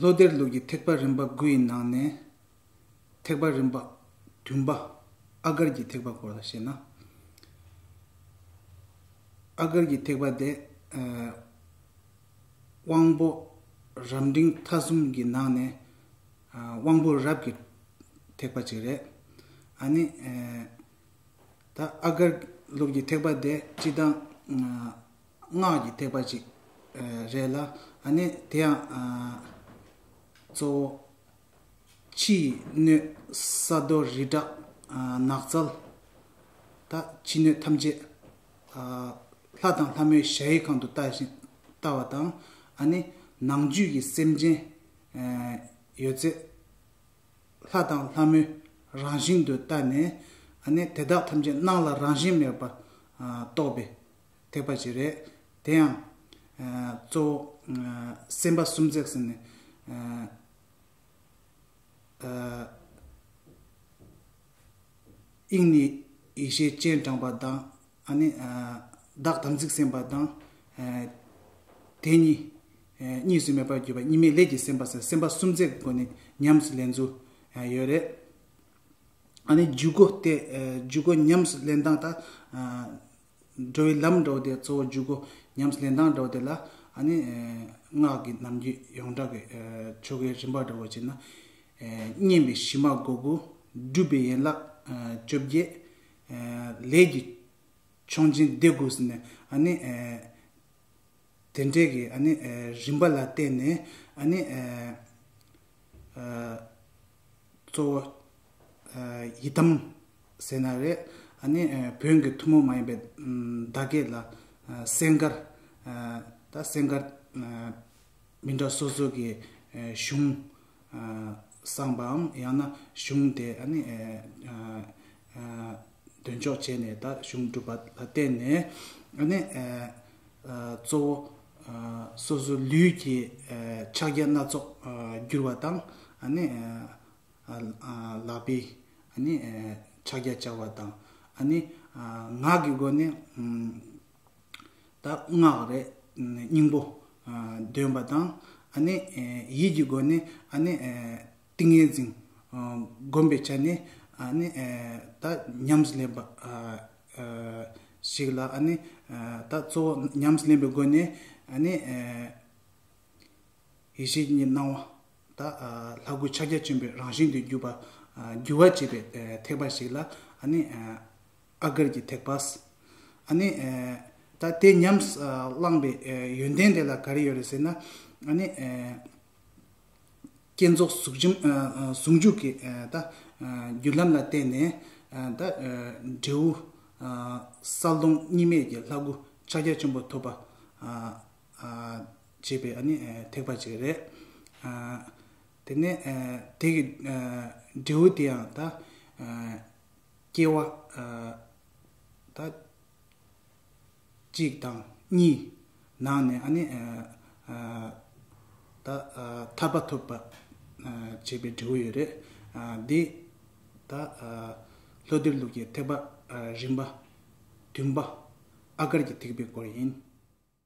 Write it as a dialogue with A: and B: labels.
A: ལྷོ་སྡེར་ལུགས་ཀྱི་ཐེག་པ་རིམ་པ་དགུ་ཡི་ནང་ནས། ཐེག་པ་རིམ་པ་བདུན་པ། ཨ་དཀར་གྱི་ཐེག་པ་སྐོར་ལ་བཤད་ན། ཨ་དཀར་གྱི་ཐེག་པ་དེ། དབང་པོ་རབ་འབྲིང་ཐ་གསུམ་གྱི་ནང་ནས། དབང་པོ་རབ་ཀྱི་ཐེག་པ་ཅིག་རེད། ཨ་ནི། ད་ཨ་དཀར་ལུགས་ཀྱི་ཐེག་པ་དེ་སྤྱི་དང། སྔགས་ཀྱི་ཐེག་པ་ཅིག་རེད་ལ་ནི་དེ་ཡང་གཙོ་བོ་ཕྱི་ཡི་སྣོད་ས་རྡོ་རི་བྲག་ནགས་ཚལ་དང་ཕྱི་སྣོད་ཐམས་ཅད་ལྷ་དང་ལྷ་མོའི་གཞལ་ཡས་ཁང་དུ་བལྟ་བཞིན་བལྟ་བ་དང་ནི་ནང་བཅུད་ཀྱི་སེམས་ཅན་ཡོད་ཚད་ལྷ་དང་ལྷ་མོའི་རང་བཞིན་དུ་བལྟ་ནས་དེ་དག་ཐམས་ཅད་སྣང་ལ་རང་བཞིན་མེད་པར་རྟོགས་པས། ཐེག་པ་ཞིག་རེད། དེ་ཡང། གཙོ་བོ། སེམས་དཔའ་སུམ་བརྩེགས་ཟེར་ནས། དབྱིངས་ནས་ཡེ་ཤེས་སྤྱན་དྲངས་པ་དང། བདག་དམ་ཚིག་སེམས་དཔའ་དང། དེ་གཉིས། གཉིས་སུ་མེད་པར་གྱུར་པ་གཉིས་མེད་ལས་ཀྱི་སེམས་དཔའ་སོགས་སེམས་དཔའ་སུམ་བརྩེགས་སྒོ་ནས་ཉམས་སུ་ལེན་ཚུལ་ཡོད་རེད། འཇུག་སྒོ་སྟེ། འཇུག་སྒོ་ཉམས་སུ་ལེན་སྟངས་དང། འགྲོ་བའི་ལམ་འགྲོ་དེ་གཙོ་བོ་འཇུག་སྒོ་ཉམས་ལེན་དང་འགྲོ་དེ་ལ་སྔགས་ཀྱི་རྣམ་འགྱུར་ཡོངས་གྲགས་ཀྱི་ཆོ་གའི་རིམ་པ་འདྲ་བོ་བྱས་ན། བསྙེན་པའི་གཞི་མ་སྒོ་དགུ། སྒྲུབ་པའི་ཡན་ལག་བཅོ་བརྒྱད། ལས་ཀྱི་མཆོག་སྦྱིན་སྡེ་དགུ་ཟེར་ནས། དེ་འདྲའི་གི་ཨ་ནི་རིམ་པ་ལ་བརྟེན་ནས་ཨ་ནི་གཙོ་བོ་ཡི་དམ་ཟེར་ན་རེད་ཨ་ནི་བོན་གི་ཐུ་མོ་མ་ཡིན་པའི་བརྡ་སྐད་ལ་སེང་དཀར་ད་སེང་དཀར་མི་འདྲ་སོ་སོ་གི་གཞུང་བསམ་པའམ་ཡང་ན་གཞུང་དེ་འདོན་ཆོག་བྱས་ནས་ད་གཞུང་སྒྲུབ་པ་ལ་བརྟེན་ནས་གཙོ་བོ་སོ་སོའི་ལུས་ཀྱི་ཕྱག་རྒྱ་སྣ་ཚོགས་བསྒྱུར་བ་དང། ལག་པའི་ཕྱག་རྒྱ་སྦྱར་བ་དང། ངག་གི་སྒོ་ནས། ད་སྔགས་རེ་སྙིང་པོ་འདོན་པ་དང། ཡིད་ཀྱི་སྒོ་ནས་ཏིང་ངེ་འཛིན་བསྒོམ་པའི་ཆ་ནས་ད་ཉམས་སུ་ལེན་པ་ཞིག་ལ་ད་གཙོ་བོ་ཉམས་སུ་ལེན་པའི་སྒོ་ནས་ཡེ་ཤེས་ཀྱི་སྣང་བ་ད་ལྷ་སྐུ་ཕྱག་རྒྱ་ཆེན་པོའི་རང་བཞིན་དུ་གྱུར་པ་བསྒྱུར་བར་བྱེད་པའི་ཐེག་པ་ཞིག་ལ་ཨ་དཀར་གྱིས་ཐེག་པ། ཨ་ནི། ད་དེ་ཉམས་བླངས་པའི་ཡོན་ཏན་དེ་ལ་ག་རེ་ཡོད་རེད་ཟེར་ན། ཨ་ནི། བསྐྱེད་རྫོགས་ཟུང་འཇུག་གི་ད་རྒྱུ་ལམ་ལ་བརྟེན་ནས་ད་འབྲས་བུ། གསལ་སྟོང་གཉིས་མེད་ཀྱི་ལྷ་སྐུ་ཕྱག་རྒྱ་ཆེན་པོ་ཐོབ་པ། ཅེས་པའི་ཨ་ནི་ཐེག་པ་ཅིག་རེད། དེ་ནས་དེ་གི་འབྲས་བུ་དེའང་ད། སྐྱེ་བ། ད། གཅིག་དང། གཉིས། ནང་ནས་ཨ་ནི། ད། ཐར་པ་ཐོབ་པ། བྱེད་པའི་འབྲས་བུ་ཡོད་རེད། འདི། ད། ལྷོ་སྡེར་ལུགས་ཀྱི་ཐེག་པ། རིམ་པ། བདུན་པ། ཨ་དཀར་གྱི་ཐེག་པའི་སྐོར་ཡིན།